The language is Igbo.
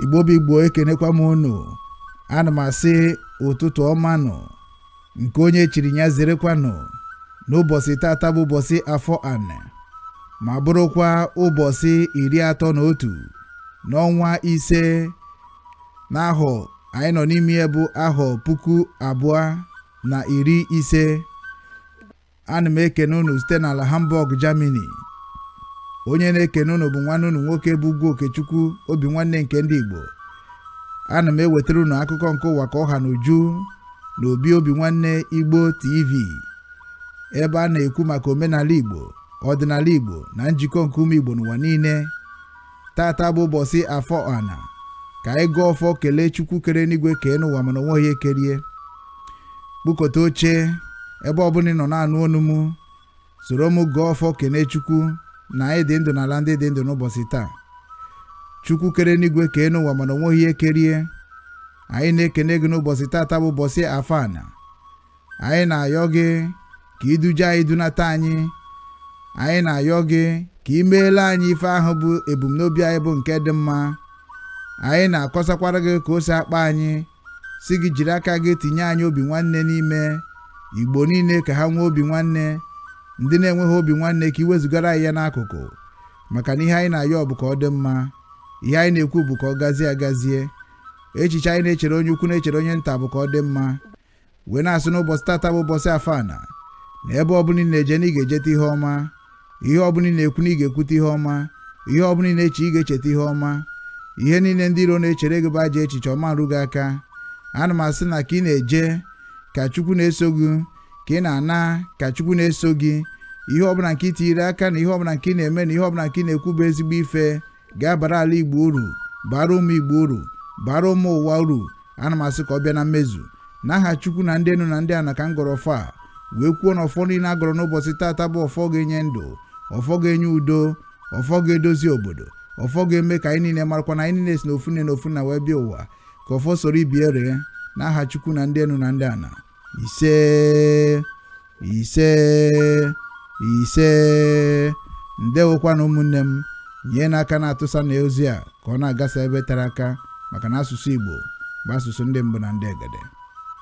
igbo bụ igbo ekenekwa m unu ana m asị ụtụtụ ọmanụ nke onye chiri ya zerekwanụ n'ụbọsị tata bụ ụbọsị afọ anị ma bụrụkwa ụbọsị iri atọ na otu n'ọnwa ise n'ahọ anyị nọ n'ime ya bụ ahọ puku abụọ na iri ise ana m ekene unu site n'ala hamburg germany onye na-ekene unu bụ nwanne unu nwoke bụ ugwu okechukwu obi nwanne nke ndị igbo ana m ewetara unu akụkọ nke ụwa ka ọ ha n'uju na obi obi nwanne igbo tv ebe a na-ekwu maka omenala igbo ọdịnala igbo na njikọ nke ụmụ igbo n'ụwa niile tata bụ ụbọsị afọ ana ka anyị gọọ ọfọ kelee chukwu kere enu igwe kee enu ụwa mana o nweghị ihe kere ya kpụkọta oche ebe ọbụna ị nọ na-anụ onu m soro m gọọ ọfọ kelee chukwu na anyị dị ndụ n'ala ndị dị ndụ n'ụbọsị taa chukwu kere enu igwe kee enu ụwa mana o nweghị ihe kere ya anyị na-ekene gị n'ụbọsị tata bụ ụbọsị afọ ana anyị na-ayọ gị ka i duje anyị dunata anyị anyị na-ayọ gị ka i meele anyị ife ahụ bụ ebumnobi anyị bụ nke dị mma anyị na-akọsakwara gị ka o si akpa anyị sị gị jiri aka gị tinye anyị obi nwanne n'ime igbo niile ka ha nwee obi nwanne ndị na-enweghị obi nwanne ka i wezugara anyị ya n'akụkụ maka na ihe anyị na-ayọ bụ ka ọ dị mma ihe anyị na-ekwu bụ ka ọ gazie agazie echiche anyị na-echere onye ukwu na-echere onye nta bụ ka ọ dị mma wee na-asị n'ụbọsị tata bụ ụbọsị afọ ana na ebe ọbụna ị na-eje na ị ga-ejeta ihe ọma ihe ọbụna ị na-ekwu na ị ga-ekwuta ihe ọma ihe ọbụna ị na-eche ị ga-echeta ihe ọma ihe niile ndị iro na-echere gị bụ ajọ echiche ọ ma-eru gị aka ana m asị na ka ị na-eje ka chukwu na-eso gị ka ị na-ana ka chukwu na-eso gị ihe ọbụna nke ị tinyere aka na ihe ọbụna nke ị na-eme na ihe ọbụna nke ị na-ekwu bụ ezigbo ife ga-abara ala igbo uru bara ụmụ igbo uru bara ụmụ ụwa uru ana m asị ka ọ bịa na mmezu n'aha chukwu na ndị enu na ndị ana ka m gọrọ ọfọ a wee kwuo na ọfọ niine a gọrọ n'ụbọsị tata bụ ọfọ ga-enye ndụ ọfọ ga-enye udo ọfọ ga-edozi obodo ọfọ ga-eme ka anyị niine marakwa na anyị niine si n'ofu nne na ofu nna wee bịa ụwa ka ọfọ soro ibe ya ree n'aha chukwu na ndị enu na ndị ana isee isee isee ndewokwanụ ụmụnne m nyenụ aka na-atụsanụ ozi a ka ọ na-agasa ebe tere aka maka na asụsụ Igbo bụ asụsụ ndị mbụ na ndị egede